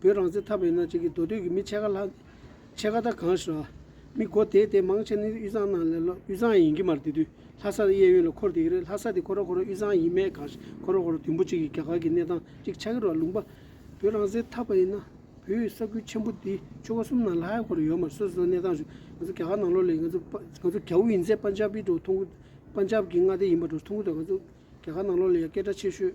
བོད་རང་བཙན་ཐབས་ཡིན་ན་ཅིག་གིས་མདོ་སྟོད་ཀྱི་མི་ཕྱེད་ཀ་ལྷག་ཕྱེད་ཀ་དག་གང་ཞིག་ར། མི་སྒོ་དེད་དེ་མང་ཆེ་ནི་དབུས་གཙང་ནང་ལས་ལོ་དབུས་གཙང་ཡིན་གྱི་མར་དེ་དུས་ལྷ་སར་གཡས་གཡོན་ལ་འཁོར་དེ་གི་རེད་ལྷ་ས་དེ་ཁོ་ར་ཁོ་ར་དབུས་གཙང་ཡིན་མེད་གང་ཞིག་ཁོ་ར་ཁོ་ར་དུས་འབོ་ཅིག་གིས་རྒྱ་གར་གྱི་གནས་སྟངས་ཅིག་ཆགས་ཀྱི་རོ་ལུང་པ། བོད་རང་བཙན་ཐབས་པ་ཡིན་ན་བོད་ས་ཁུལ་ཆེན་པོ་འདི་ཆོལ་ཁ་གསུམ་ནང་ལྷ་ཡ་ཁོ་ར་ཡོད་མར་སོ་སོའི་གནས་སྟངས་ཞུ། ང་ཚོ་རྒྱ་གར་ནང་ལོ་ལས་ང་ཚོ་ང་ཚོ་རྒྱ་བོ་ཡིན་ཚད་པཱན་ཇཱབ་པི་འགྲོ་ཐུང་གུ་པཱན་ཇཱབ་ཀྱི་མངའ་སྡེ་ཡིན་པ་འགྲོ་ཐུང་གུ་དང་ང་ཚོ་རྒྱ་གར་ནང་ལོ་ལས་ཡ་སྐད་གྲགས་ཆེ་ཤོས།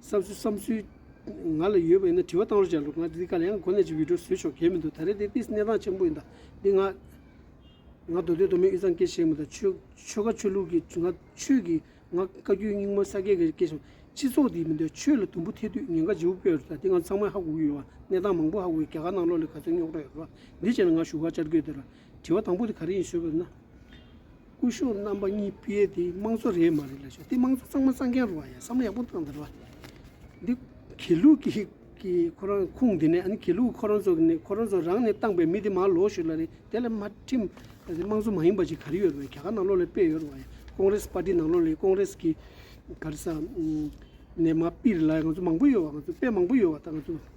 བསམ་ཚུལ་བསམ་ཚུལ། ང་ལ་ཡོད་པ་ཡིན་ན་དྲི་བ་གཏང་རོགས་བྱ་རོགས་ང་འདི་ག་ལ་ཡང་གོ་གནས་ཀྱི་འོས་སྦྲུལ་བཟོས་ཆོག་གལ་མི་འདུག་ད་རེས་འདི་ཏིས་གནས་སྟངས་ཆེན་པོ་ཡིན་ད་འདི་ང། ང་མདོ་སྟོད་མདོ་སྨད་དབུས་གཙང་སྐད་བཤད་མི་ད་ཆོལ་ཆོལ་ཁ་ཆོས་ལུགས་ཀྱི་ང་ཆོས་ཀྱི་ང་བཀའ་བརྒྱུད་རྙིང་མ་ས་སྐད་ག་རེ་སྐད་བཤད་སྤྱི་ཚོགས་འདི་མི་འདོད་ཆོས་ལ་དུམ་བུ་ཐེ་དུས་ཉེན་ཁ་ལྗི་བོ་སྤེལ་རོགས་ད་འདི་ང་ཚང་མ་ཧ་གོ་གི་ཡོད་བ་གནས་སྟངས་མང་པོ་ཧ་གོ་གི་རྒྱ་གར་ནང་ལོག་ལས་ག་ཚོད་རྙོག་དྲ་ཡོད་རོགས་ད་འདི་བྱས་ན་ང་ཞུ་བ་བཅར་དགོས་འདོད་རོགས་དྲི་བ་དང་པོ་དེ་ག་རེ་ཡིན་ཞུས་པ་ན། སྐུ་གཞོགས་རྣམ་པ་གཉིས་སྤེལ་དེ་དམངས་གཙོ་རེད་མ་རེད་ལ་ཞུས་དེ་དམངས་གཙོ་གཙང་མ་གཙང་མཁན་རུ་བ་ཡ་བསམ་བློ་ཡག་པོ་གཏང་དེ་རུ་བ། འདི་གེ་ལུགས་ཀྱི་ཀྱི་ཁོ་རང་ཁུངས་དེ་ནས་ཨ་ནི་གེ་ལུགས་ཁོ་རང་ཚོ་གི་ནས་ཁོ་རང་ཚོ་རང་ནས་བཏང་པའི་མི་དེ་མ་ལོག་ཞུས་ལ་རེད་དེ་ལ་མ་ཁྲིམས་ཨ་དམངས་གཙོ་མ་ཡིན་པ་ཅིག་ག་རེ་ཡོད་རུ་བ་ཡ་ག་ག་ནང་ལོག་ལས་སྤེལ་ཡོད་རུ་བ་ཡ་ཀོང་རེས་པ་ཏི་ནང་ལོག་ལས་ཀོང་རེས་ཀྱི་ག་རེ་ས་ནས་མ་སྤིར་ལ་ང་ཚོ་མང་པོ་ཡོད་བ་ང་ཚོ་དཔེ་མང་པོ་ཡོད་བ་ད་ང་ཚོ།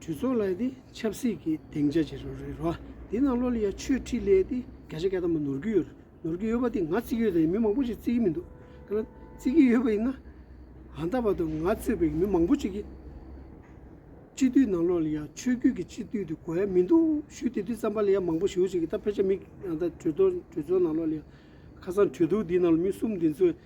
གྲོས་ཚོགས་ལ་དེ་ཆབ་སྲིད་ཀྱི་སྡིངས་ཆ་བྱེད་རོགས་རེད་རོ། དེ་ནང་ལོ་ལ་ཡ་ཆོས་ཁྲིད་ལས་དེ་ག་ཞེ་ག་ད་མ་ནོར་གི་ཡོད་རེད་ནོར་གི་ཡོད་པ་དེ་ང་བརྩི་གི་ཡོད་དེ་མི་མང་པོ་ཞིག་བརྩི་གི་མི་འདུག་ཁ་ན་བརྩི་གི་ཡོད་པ་ཡིན་ན། གང་ལྟ་བར་དུ་ང་གཙོས་པའི་མི་མང་པོ་ཅིག་གིས། སྤྱི་འཐུས་ནང་ལོ་ལ་ཡ་ཆོས་བརྒྱུད་ཀྱི་སྤྱི་འཐུས་དེ་གོ་ཡ་མི་འདུག་ཞུ་དེ་དུས་རྩམ་པ་ལ་ཡ་མང་པོ་ཞུ་ཞིག་གིས་ད་ཕལ་ཆེར་མི་གང་ད་གྲོས་ཚོགས་གྲོས་ཚོགས་ནང་ལོ་ལ་ཡ་ཁ་སང་གྲོས་བསྡུར་འདི་ནང་ལ་མི་གསུམ་འདི་ཚོས་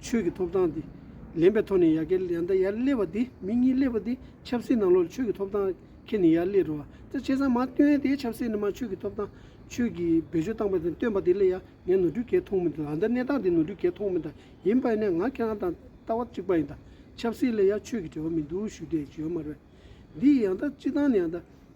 ཆོས་ཀྱི་ཐོབ་ཐང་དེ་ལེན་པའི་ཐོག་ནས་ཡ་གེ་ཡ་འདའ་ཡར་སླེབས་པ་དེ་མི་གཉིས་སླེབས་པ་དེ་ཆབ་སྲིད་ནང་ལོགས་ལ་ཆོས་ཀྱི་ཐོབ་ཐང་ཁྱེར་ནས་ཡར་སླེབས་རུང་བརྩེ་ཆེ་ཚང་མ་བཏོན་དེ་ཆབ་སྲིད་ནི་མ་ཆོས་ཀྱི་ཐོབ་ཐང་ཆོས་ཀྱི་བེད་སྤྱོད་སྟངས་པ་དེ་བཏོན་པ་དེ་ལས་ཡ་ངས་ནོར་འཁྲུལ་གས་མཐོང་མི་འདུག་ད་ལྟ་གནས་སྟངས་དེ་ནོར་འཁྲུལ་གས་མཐོང་མི་འདའ་ཡིན་པ་ནས་ང་ཁྱེད་རང་དང་ལྟ་བ་གཅིག་པ་ཡིན་ད་ཆབ་སྲིད་ལས་ཡ་ཆོས་ཀྱི་འབྲེལ་བ་མི་འདུག་ཞུ་དེ་བརྗོད་མ་རེད་འདི་ཡ་འདའ་སྤྱི་བཏང་ནས་ཡ་འདའ།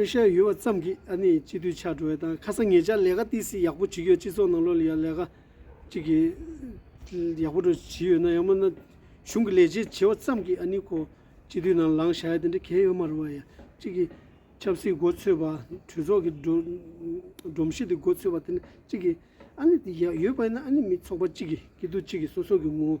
དཔེ་ཤེས་ཡོད་པ་ཙམ་གྱིས་ཨ་ནི་སྤྱི་འཐུས་ཆགས་འགྲོ་བའི་དང་ཁ་སང་ངེད་ཅག་ལས་ཀ་ཏི་སི་ཡག་པོ་བྱེད་ཀྱི་ཡོད་སྤྱི་ཚོགས་ནང་ལོ་ལ་ཡག་ལས་ཀ་ཅིག་གིས་ཡག་པོ་འགྲོ་བྱེད་ཡོད་ན་ཡང་མིན་ན་གཞུང་གི་ལས་བྱེད་བྱེད་པ་ཙམ་གྱིས་ཨ་ནི་ཁོ་སྤྱི་འཐུས་ནང་ལངས་བྱ་ཡ་དེ་འདྲ་གལ་ཡོད་མ་རེད་བ་ཡ་གཅིག་གིས་ཆབ་སྲིད་འགོ་ཚོས་པ་གྲོས་ཚོགས་ཀྱི་སྒྲོམ་གཞི་དེ་འགོ་ཚོས་པ་དེ་འདྲ་གཅིག་གིས་ཨ་ནི་དེ་ཡག་ཡོད་པ་ཡིན་ན་ཨ་ནི་མི་ཚོགས་པ་གཅིག་གིས་སྐྱིད་སྡུག་གཅིག་གིས་སོ་སོ་གི་ངོ་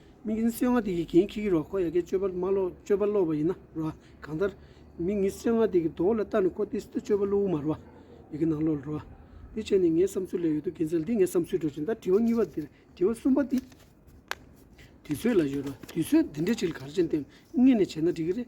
མིག་གཉིས་སེར་ལྔ་དེ་ཡི་གེའི་ཁྱི་གི་རོ་ཁོ་ཡ་གའི་སྤྱོད་པ་མ་ལོ་སྤྱོད་པ་ལོག་པ་ཡིན་ན་རོ་ཨ། གང་ལྟར། མིག་གཉིས་སེར་ལྔ་དེ་གི་དོ་བོ་ལ་བལྟ་ནས་ཁོ་དེ་སི་ཏུ་སྤྱོད་པ་བསླུ་བོ་མ་རོ་ཨ། ཡི་གེ་ནང་ལོག་རོ་ཨ། དེ་བྱས་ནས་ངའི་བསམ་ཚུལ་ལས་ཡོད་དོ་དགེ་མཚན་འདི་ངའི་བསམ་ཚུལ་གྲོས་ཅན་ད་དྲི་བ་གཉིས་པ་དེར་དྲི་བ་གསུམ་པ་དེ། དུས་ཚོད་ལ་ཡོད་རོ་དུས་ཚོད་འདི་འདྲའི་ཁྲིད་གར་ཅན་དེ་ངེད་ནས་བྱས་ན་འགྲིག་གི་རེད།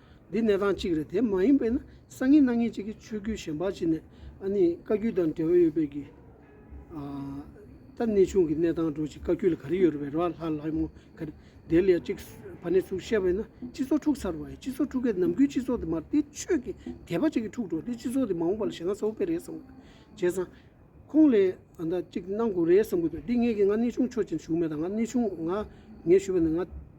འདི་གནས་སྟངས་གཅིག་རེད་དེ་མ་ཡིན་པས་ན་སང་ཉིན་གནངས་ཉིན་གཅིག་གི་ཆོས་བརྒྱུད་གཞན་པ་གཅིག་ནས་ཨ་ནི་བཀའ་བརྒྱུད་དང་འབྲེལ་བ་ཡོད་པའི་གི་ད་གནས་ཆུང་གི་གནས་སྟངས་འགྲོ་གཅིག་བཀའ་བརྒྱུད་ལ་ག་རེ་ཡོད་རེད་བས་ར་ལྷ་ལྷ་མོ་ག་རེ་དེ་ལས་གཅིག་བ་ནས་ཚུགས་བཤད་པས་ན་སྤྱི་ཚོགས་འཁྲུགས་ཚར་བ་ཡིན་སྤྱི་ཚོགས་འཁྲུགས་མཁན་ནམ་དགུའི་སྤྱི་ཚོགས་དེ་མ་དེ་ཆོས་ཀྱི་དད་པ་གཅིག་གི་འཁྲུགས་འགྲོ་དེ་སྤྱི་ཚོགས་དེ་མ་འོངས་པ་ལ་ཞེ་ན་ཚ་བོ་དཔེ་རེད་བསམ་དགོས་བྱས་ཙང་ཁོང་ལས་ཨ་མདའ་གཅིག་གནང་དགོས་རེད་བསམ་དགོས་པས་འདི་ངེད་ཀྱི་ང་གནས་ཆུང་ཆོས་ཅན་ཞུགས་མེད་ད་ང་གནས་ཆུང་ང་ངས་ཞུས་པ་ནི་ང།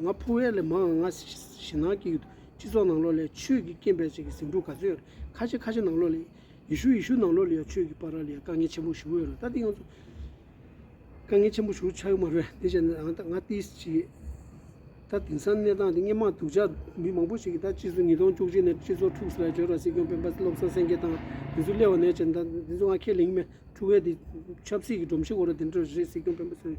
ང་ཕོ་བའི་ལས་མང་ང་ཞེ་ནང་གི་སྤྱི་ཚོགས་ནང་ལོགས་ལས་ཆོས་ཀྱི་སྐྱེ་འཕེལ་བྱེད་ཀྱི་ཟིང་འཁྲུག་ག་ཚོད་ཁ་ཆེ་ཁ་ཆེ་ནང་ལོགས་ལས་ཡེ་ཤུ་ཡེ་ཤུ་ནང་ལོགས་ལས་ཡང་ཆོས་ཀྱི་པར་ར་ལས་དཀའ་ངལ་ཆེན་པོ་ཞུ་གི་ཡོད་ལ་ད་དེ་ཡང་ཚོ་དཀའ་ངལ་ཆེན་པོ་ཞུ་ཆ་ཡོད་མ་རེད་དེ་བྱས་ན་ང་ད་ང་ཏི་སི་ཅི་ད་དེང་སང་གནས་སྟངས་དེ་སྙན་མང་སྡུག་ཅག་མི་མང་པོ་ཞིག་གིས་ད་སྤྱི་ཚོ་ཉིས་སྟོང་བཅུ་གཅིག་ནས་སྤྱི་ཚོ་འཁྲུག་སོད་རྗོད་ར་སྲིད་སྐྱོང་སྤེན་པ་བློ་བཟང་སེང་གེ་དང་དེ་ཚོ་སླེ་བ་ནས་བྱས་ན་ད་དེ་ཚོ་ང་ཁས་ལེན་གི་མེད་འཁྲུག་བས་དེ་ཆབ་སྲིད་ཀྱི་སྒྲོམ་གཞི་འགོ་ར་དེ་འདྲ་རེད་སྲིད་སྐྱོང་སྤེན་པ་ཚོས།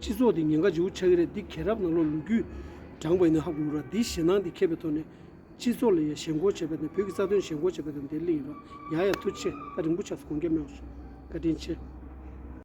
སྤྱི་ཚོགས་འདི་ཉེན་ཁ་ཆེ་བོ་ཆགས་ཀྱི་རེད་འདི་གས་རབ་ནང་ལོག་ལུག་རྒྱུད་བགྲངས་པ་ཡིན་ན་ཧ་གོ་གི་རོགས་འདིའི་ཞེད་སྣང་འདི་ཁེབས་པའི་ཐོག་ནས་སྤྱི་ཚོགས་ལ་ཡ་ཞེན་སྐོར་བྱས་པ་དང་བོད་ཀྱི་རྩ་དོན་ཞེན་སྐོར་བྱས་པ་དང་འདི་གླེང་ཡིན་རོགས་ཡ་ཡ་ཐུགས་ཆེ་ད་རིང་པོ་ཆགས་སོང་ག་རྒྱ་མེད་བ་སོང་བཀའ་དྲིན་ཆེ།